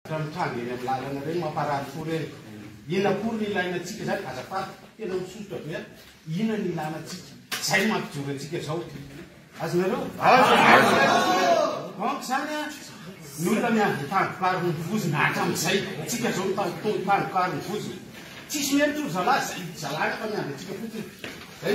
Ireo mitranga eny amin'ny lalana ireny mamparary fo ireny. Inona akory no ilaina antsika izany? Azafady, tena misotra be aho. Inona no ilana antsika? Izay no mampijoro antsika izao. Azonareo? Donc izany an, ny olona miandry ny tandrokaro ny vozona hatramin'izay. Antsika izao mitandro fotoana ny tandrokaro ny vozona. Tsisy miheno tory zalahy, izay zalahy rehefa miandry antsika fotsiny. Zay.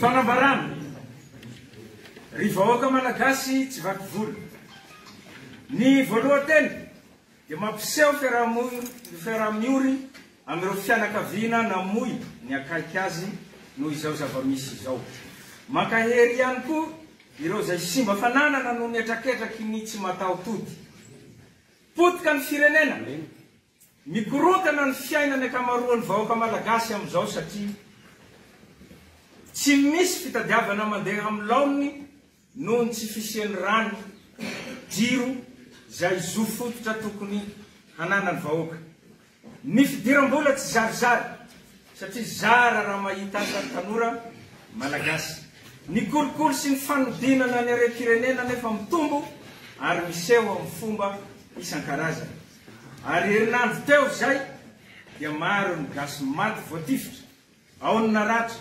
Fanambarana, Ry vahoaka Malagasy tsy vaky volo. Ny voalohan-teny. dia mampiseho fiaraha-miory amin'ireo fianakaviana namoy ny akaiky azy noho izao zava-misy izao. Mankahery ihany koa ireo izay simba fananana noho ny hetraketraky ny tsy mataho-tody. Potika ny firenena, mikorontana ny fiainan'ny ankamaroan'ny vahoaka malagasy amin'izao satria tsy misy fitadiavana mandeha amin'ny laoniny Noho ny tsy fisian'ny rano, jiro izay zo fototra tokony hananan'ny vahoaka. Ny fidiram-bola tsy zarizary satria zara raha mahita asa ny tanora Malagasy. Ny kolikoly sy ny fanodinana ny harem-pirenena anefa mitombo ary miseho amin'ny fomba isan-karazany. Ary herinandro teo izay dia maro ny gasy maty voatifitra Ao ny naratra,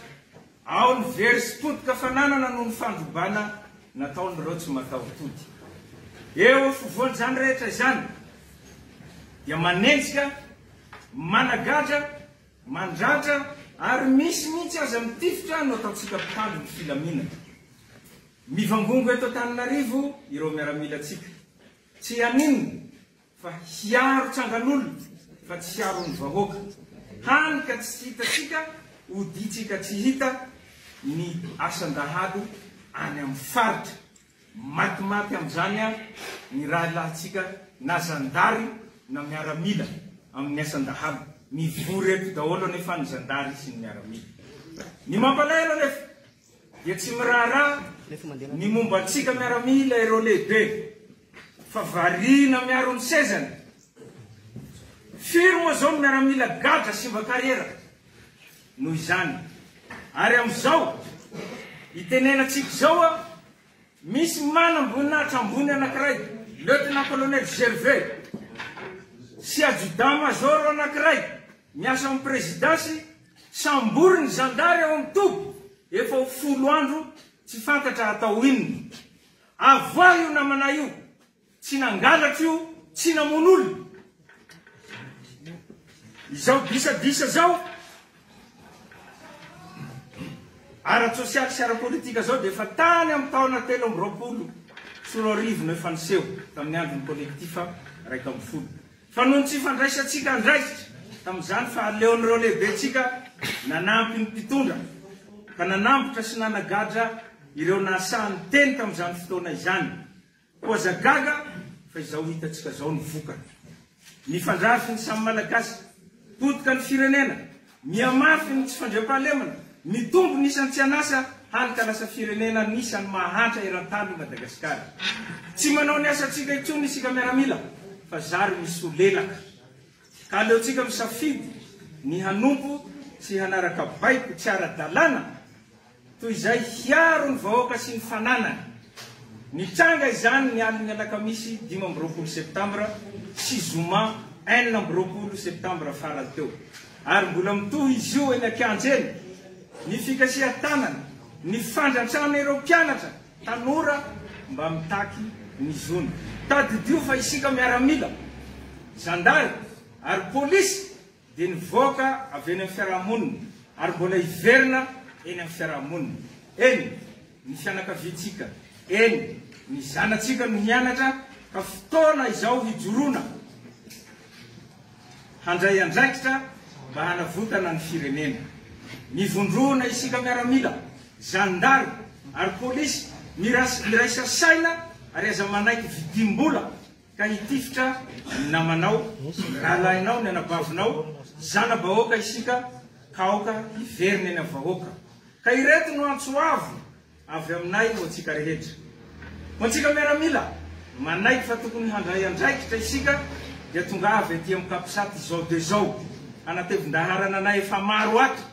ao ny very sy potika fananana noho ny fandrobana nataon'ireo tsy mataho-tody. Eo afovoan'izany rehetra izany dia manenjika, managadra, mandratra ary misy mihitsy aza mitifitra no ataontsika mpitandro ny filaminana. Mivangongo eto Antananarivo ireo miaramilantsika. Tsy haninona? Fa hiaro tsangan'olona fa tsy hiaro ny vahoaka, hany ka tsy hitatsika oditsika tsy hita ny asan-dahalo any amin'ny faritra. Matimaty amin'izany ary ny rahilahintsika na zandary na miaramila amin'ny asan-dahalo. Mivory eto daholo anefa ny zandary sy ny miaramila. Ny mampalahelo anefa, Dia tsy miraharaha ny momba antsika miaramila ireo lehibe fa variana miaro ny sezany. Firy moa izao ny miaramila gadra simba kariera noho izany. Ary amin'izao itenenantsika izao a! Misy manam-boninahitra ambony anankiray, Lieutenant-Colonel Gervais, sy Adjudant-Major anankiray miasa ao amin'ny Prezidansy, samborin'ny zandary ao amin'ny toby efa ho folo andro tsy fantatra atao inona. Avoahy io namana io. Tsy nangalatra io, tsy namono olona. Izao disadisa zao ara-tsosialy sy ara-politika zao dia efa tany amin'ny taona telo amby roapolo sy roa arivo no efa niseho tamin'ny andron'ny kolektifa iraika ambin'ny folo. Fa noho ny tsy fandraisantsika andraikitra tamin'izany fa aleon'ireo lehibentsika nanampy ny mpitondra ka nanambotra sy nanagadra ireo nahasaha niteny tamin'izany fotoana izany. Koa aza gaga fa izao hitantsika izao ny vokany. Mifandrafy ny samy Malagasy, potika ny firenena, mihamafy ny tsy fandriampahalemana, mitombo ny isan'ny tsy an'asa hany ka lasa firenena anisan'ny mahantra eran-tany i Madagasikara. Tsy manao ny asantsika intsony isika miaramila fa zary misolelaka. Ka aleontsika misafidy ny hanompo sy hanaraka baiko tsy ara-dalàna Toy izay hiaro ny vahoaka sy ny fananany. Nitranga izany ny alin'ny alakamisy dimy amby roapolo septambra sy zoma enina amby roapolo septambra farany teo. Ary mbola mitohy izy io eny an-kianja eny. Ny fikasihan-tanana, ny fandrantrana ireo mpianatra, tanora mba mitaky ny zony. Tadidio fa isika miaramila, zandary ary polisy. dia nivoaka avy eny amin'ny fiarahamonina ary mbola hiverina eny amin'ny fiarahamonina. Eny, ny fianakaviantsika, eny, ny zanatsika no mianatra ka fotoana izao hijoroana handray andraikitra mba hanavotana ny firenena. Mivondrona isika miaramila, zandary ary polisy, miraisa saina ary aza manaiky vidim-bola. ka hitifitra ny namanao, rahalahinao, ny anabavinao, zana-bahoaka isika, ka aoka hiverina eny amin'ny vahoaka. Ka ireto no antso avo avy aminay ho antsika rehetra. Ho antsika miaramila manaiky fa tokony handray andraikitra isika dia tongava ety amin'ny Capsat izao dia izao, hanatevin-daharana anay efa maro ato.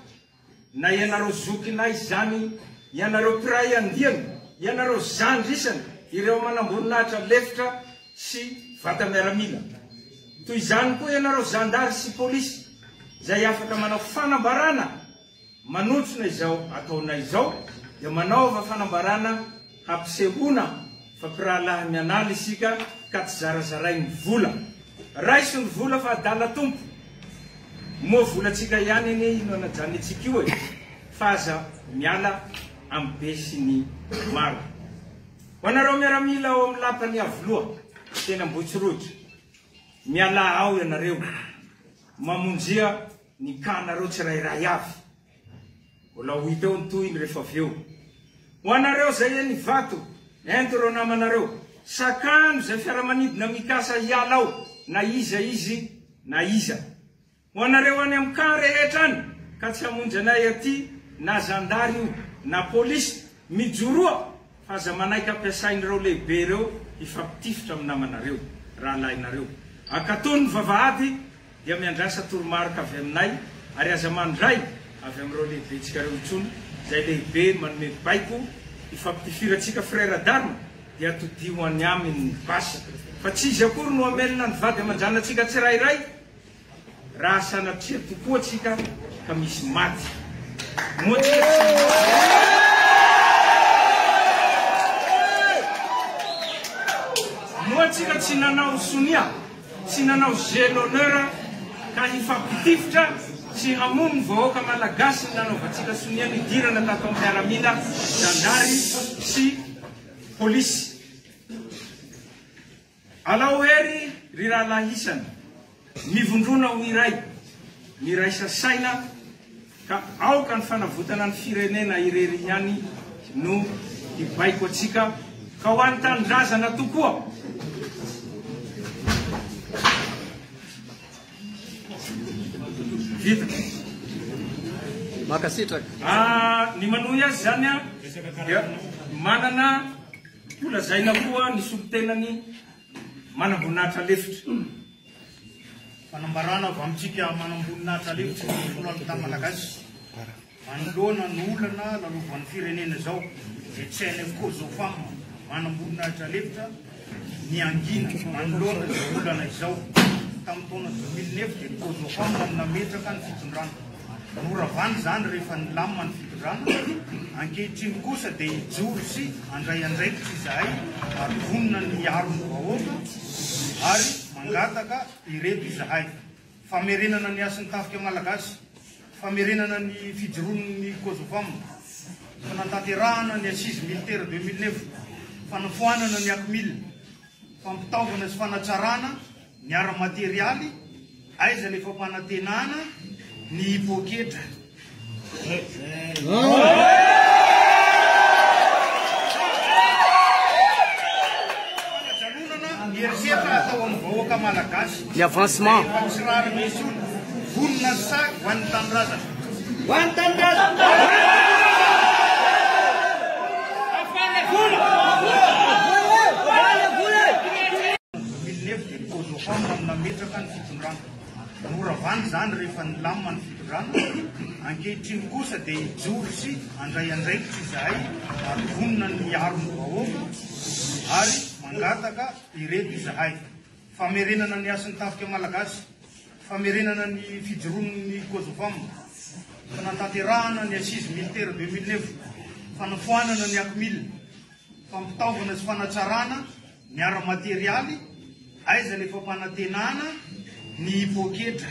Na ianareo zokinay zany, ianareo mpiray andiany, ianareo zandry isany, ireo manamboninahitra lefitra sy vata miaramila. Toy izany koa ianareo zandary sy polisy izay afaka manao fanambarana manontsona izao ataonay izao dia manaova fanambarana Hampisehoana fa mpirahalahy mianala isika ka tsy zarazarain ny vola. Raiso ny vola fa adala tompo. Moa volantsika ihany anie io no anajanentsika io e. Fa aza miala amin'ny be sy ny maro. Ho anareo miaramila ao amin'ny lapan'i Iavoloha, teny Ambohitsorohitra. Mialà ao ianareo. Mamonjia ny cas-nareo tsirairay avy. Mbola ho hita eo ny tohiny rehefa avy eo. Ho anareo izay eny Ivato, ento ireo namanareo. Sakano izay fiaramanidina mikasa hiala ao na iza izy na iza. Ho anareo any amin'ny camp rehetra any ka tsy hamonjy anay aty na zandary io na polisy Mijoroa fa aza manaiky ampiasain'ireo lehibe ireo hifampitifitra amin'ny namanareo, rahalahinareo. Ankatò ny vavahady dia miandrasa toromarika avy aminay ary aza mandray avy amin'ireo lehibentsika ireo intsony izay lehibe manome baiko hifampitifirantsika Frera Dan dia todiho ho any aminy ny basy fa tsy izy akory no hamelona ny vady aman-janantsika tsirairay Raha sanatria tokoa tsika ka misy maty, moa tsy efa Moa tsika tsy nanao sonia, tsy nanao jeu d'honneur ka hifampitifitra sy hamono ny vahoaka Malagasy ny nanaovantsika sonia nidirana tato am piaramila zandary sy polisy. Alao hery ry rahalahy isany, mivondrona ho iray, miraisa saina ka aoka ny fanavotana ny firenena irery ihany no hibaiko antsika ka ho an'ny tanindrazana tokoa. Vita. Mankasitraka. Ah, ny manohy azy izany dia manana. Holazaina koa ny solontenan'ny manamboninahitra lefitra. Fanambarana avy amintsika manamboninahitra lefitry ny Filohan'Unita Malagasy manoloana ny olana lalovan'ny firenena izao dia CNF Cosofam manamboninahitra lefitra niangina manoloana izao olana izao. Tamin'ny taona dimy mille neuf dia ny Cosofam no nametraka ny fitondrana. Noravana izany rehefa nilamina ny fitondrana. Ankehitriny kosa dia hijoro sy handray andraikitra izahay ary vonona ny hiaro ny vahoaka ary mangataka ireto izahay, famerenana ny hasin'ny tafika malagasy, famerenana ny fijoroan'ny Cosofam, fanantanterahana ny Assises Militaires 2009, fanafoanana ny Acmil, fampitaovana sy fanatsarana, Ny ara-materialy, aiza le fampanantenana ny poketra? Fanajanonana ny herisetra atao amin'ny vahoaka malagasy. Ny avancement. Rehefa tsy rariny intsony. Vonona ny sac ho an'ny tanindrazana. Ho an'ny tanindrazana. Villeneuve dia ny Kozohom no nametraka ny fitondrana. Noravana izany rehefa nilamina ny fitondrana. Ankehitriny kosa dia hijoro sy handray andraikitra izahay ary vonona ny hiaro ny vahoaka ary mangataka ireto izahay, famerenana ny hasin'ny tafika malagasy, famerenana ny fijoroan'ny Kozohom, fanatanterahana ny Assises Militaires 2009, fanafoanana ny Acmil, fampitaovana sy fanatsarana, Ny ara-materialy, aiza ny fampanantenana ny poketra?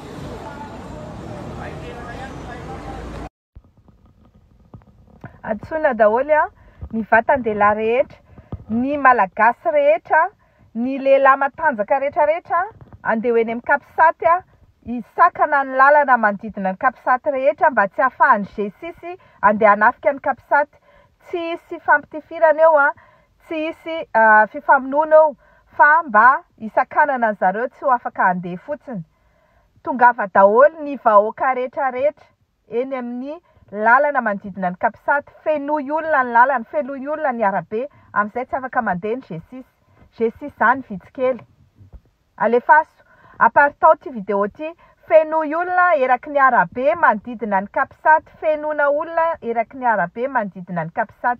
Antsoina daholo an! Ny vatan-dehilahy rehetra, ny Malagasy rehetra, ny lehilahy matanjaka rehetra rehetra andeha ho eny amin'ny Capsat hisakana ny lalana manodidina ny Capsat rehetra mba tsy ahafahan'ny G-six andeha hanafika ny Capsat. Tsy hisy fampitifirana eo an! Tsy hisy fifamonoana eo fa mba hisakanana an zareo tsy ho afaka handeha fotsiny. Tongava daholo ny vahoaka rehetra rehetra eny amin'ny lalana manodidina ny capsat, fenoy olona ny lalana, fenoy olona ny arabe, amin'izay tsy afaka mandeha ny G-six. G-six zany vitsy kely. Alefaso. Aparitao ty video ty. Fenoy olona eraky ny arabe manodidina ny Capsat Fenona olona eraky ny arabe manodidina ny Capsat.